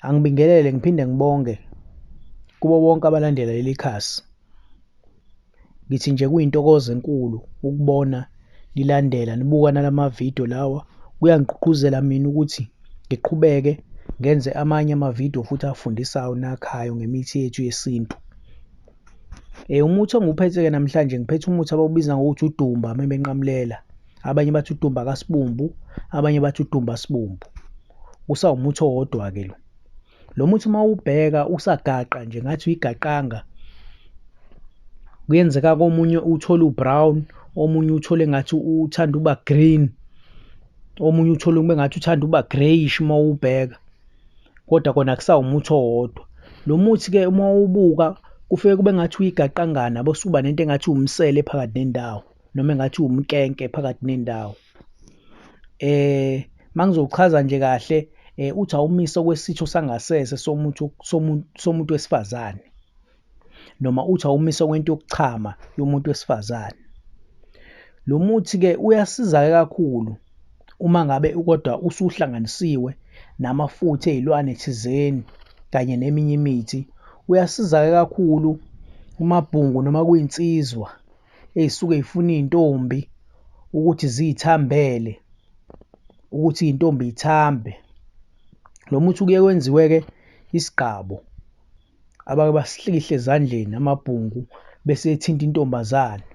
Angibingelele ngiphinde ngibonge kubo bonke abalandela leli khasi. Ngithi nje kuyintokozo enkulu ukubona nilandela nibuka nalamavidiyo lawa. Kuyangigqugquzela mina ukuthi ngiqhubeke ngenze amanye amavidiyo futhi afundisayo nakhayo ngemithi yethu yesintu. Eh, umuthi engiwuphethe-ke namhlanje ngiphethe umuthi abawubiza ngokuthi udumba mebenqamulela. Abanye bathi udumba kasibumbu, abanye bathi udumba sibumbu. kusawumuthi owodwa-ke lo lo muthi uma ubheka usagaqa nje ngathi uyigaqanga kuyenzeka komunye uthole u-brown omunye uthole ngathi uthanda uba green omunye uthole kube ngathi uthanda uba greyish uma uwubheka kodwa kona kusawumuthi owodwa lo muthi-ke uma uwubuka kufike kube ngathi uyigaqangana bese uba nento engathi uwumsele phakathi nendawo noma engathi uwumkenke phakathi nendawo eh mangizochaza nje kahle eh uthi awumiso kwesitho sangasese somuntu somuntu wesifazane noma uthi awumiso kwento yokuchama yomuntu wesifazane lo muthi ke uyasiza kakhulu uma ngabe kodwa usuhlanganisiwe namafutha ezilwane thizeni kanye neminye imithi uyasiza kakhulu kumabhungu noma kuyinsizwa. ey'suke y'funa iy'ntombi ukuthi ziy'thambele ukuthi iy'ntombi y'thambe. Lo muthi kuye kwenziwe-ke isigqabo abake basihlikihle ezandleni amabhungu bese ethinta intombazane.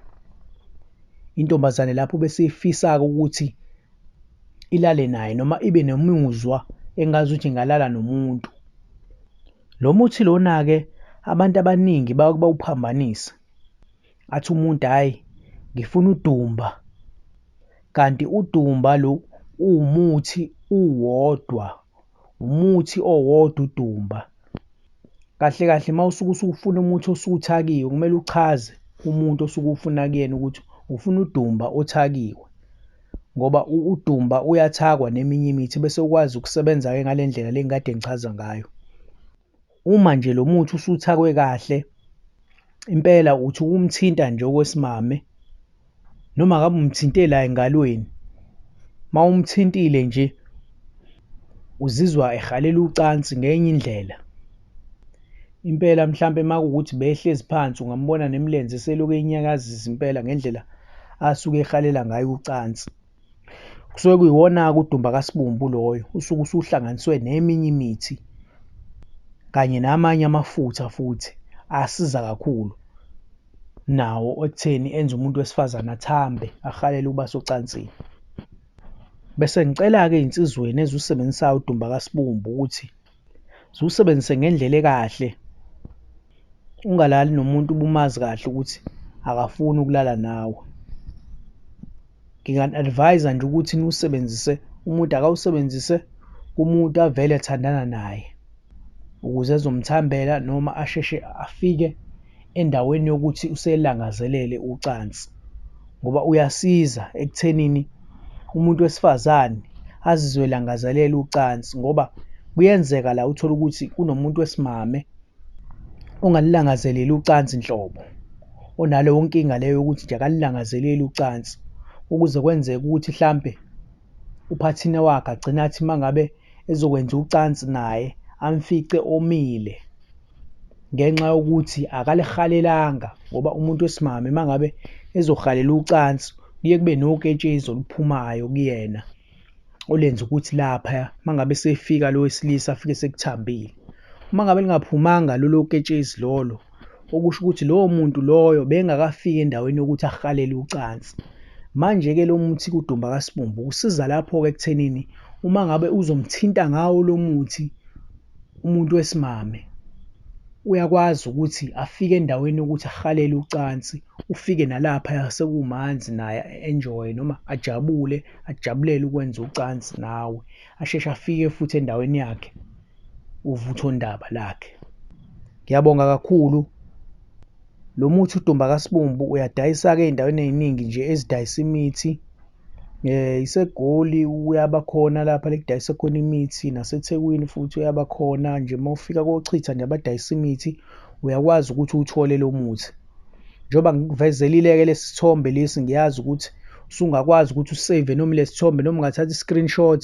Intombazane lapho bese ifisa-ke ukuthi ilale naye noma ibe nomuzwa engazuthi ingalala nomuntu. Lo muthi lona-ke abantu abaningi bawuphambanise athi umuntu hhayi ngifuna udumba kanti udumba lo uwumuthi uwodwa umuthi owodwa udumba kahle kahle uma usuke usufuna umuthi osuke uthakiwe kumele uchaze umuntu osuke ufuna kuyena ukuthi ufuna udumba othakiwe ngoba udumba uyathakwa neminye imithi bese ukwazi ukusebenza-ke ngale ndlela le ngikade ngichaza ngayo. Uma nje lo muthi usuthakwe kahle impela uthi ukumthinta nje okwesimame noma ngabe umthinte la engalweni uma umthintile nje uzizwa ehalela ucansi ngenye indlela impela mhlampe uma kuwukuthi behlezi phansi ungambona nemilenze selokhu enyakazisa impela ngendlela asuke ehalela ngayo ucansi. kusuke kuyiwona-ke udumba kasibumbu loyo usuke usuhlanganiswe neminye imithi kanye namanye amafutha futhi asiza kakhulu nawo ekutheni enze umuntu wesifazane athambe ahalele ukuba socansini. Bese ngicela-ke ezinsizweni eziwusebenzisayo udumba kasibumbu ukuthi. ziwusebenzise ngendlela ekahle ungalali nomuntu ubumazi kahle ukuthi akafuni ukulala nawe nginga-advise nje ukuthi niwusebenzise umuntu akawusebenzise kumuntu avele athandana naye ukuze ezomthambela noma asheshe afike endaweni yokuthi uselangazelele ucansi ngoba uyasiza ekuthenini umuntu wesifazane azizwe elangazelela ucansi ngoba kuyenzeka la uthole ukuthi kunomuntu wesimame ongalilangazeleli ucansi nhlobo onaleyo nkinga leyo yokuthi nje akalilangazeleli ucansi ukuze kwenzeke ukuthi hlampe uphathina wakhe agcina athi uma ngabe ezokwenza ucansi naye amfice omile ngenxa yokuthi akalihalelanga ngoba umuntu wesimame uma ngabe ezohalela ucansi kuye kube noketshezi oluphumayo kuyena olenza ukuthi lapha uma ngabe sefika lo wesilisa afike sekuthambile uma ngabe lingaphumanga lolo ketshezi lolo okusho ukuthi lowo muntu loyo bengakafiki endaweni yokuthi ahalele ucansi manje-ke lo muthi kudumba kasibumbu usiza lapho-ke ekuthenini uma ngabe uzomthinta ngawo lo muthi umuntu wesimame uyakwazi ukuthi afike endaweni yokuthi ahalele ucansi ufike nalapha yasekumanzi naye enjoy noma ajabule ajabulele ukwenza ucansi nawe asheshe afike futhi endaweni yakhe. uvuthondaba lakhe. Ngiyabonga kakhulu. Lo muthi udumba kasibumbu uyadayisa-ke ey'ndaweni ey'ningi nje ezidayisa imithi. Um iseGoli uyaba khona lapha la ekudayisa khona imithi, naseThekwini futhi uyaba khona nje. Uma ufika koChitha nje abadayisa imithi, uyakwazi ukuthi uwuthole lo muthi. Njengoba ngikuvezelile-ke lesi sithombe lesi, ngiyazi ukuthi usungakwazi ukuthi useyive noma ilesi sithombe noma ungathatha i-screenshot.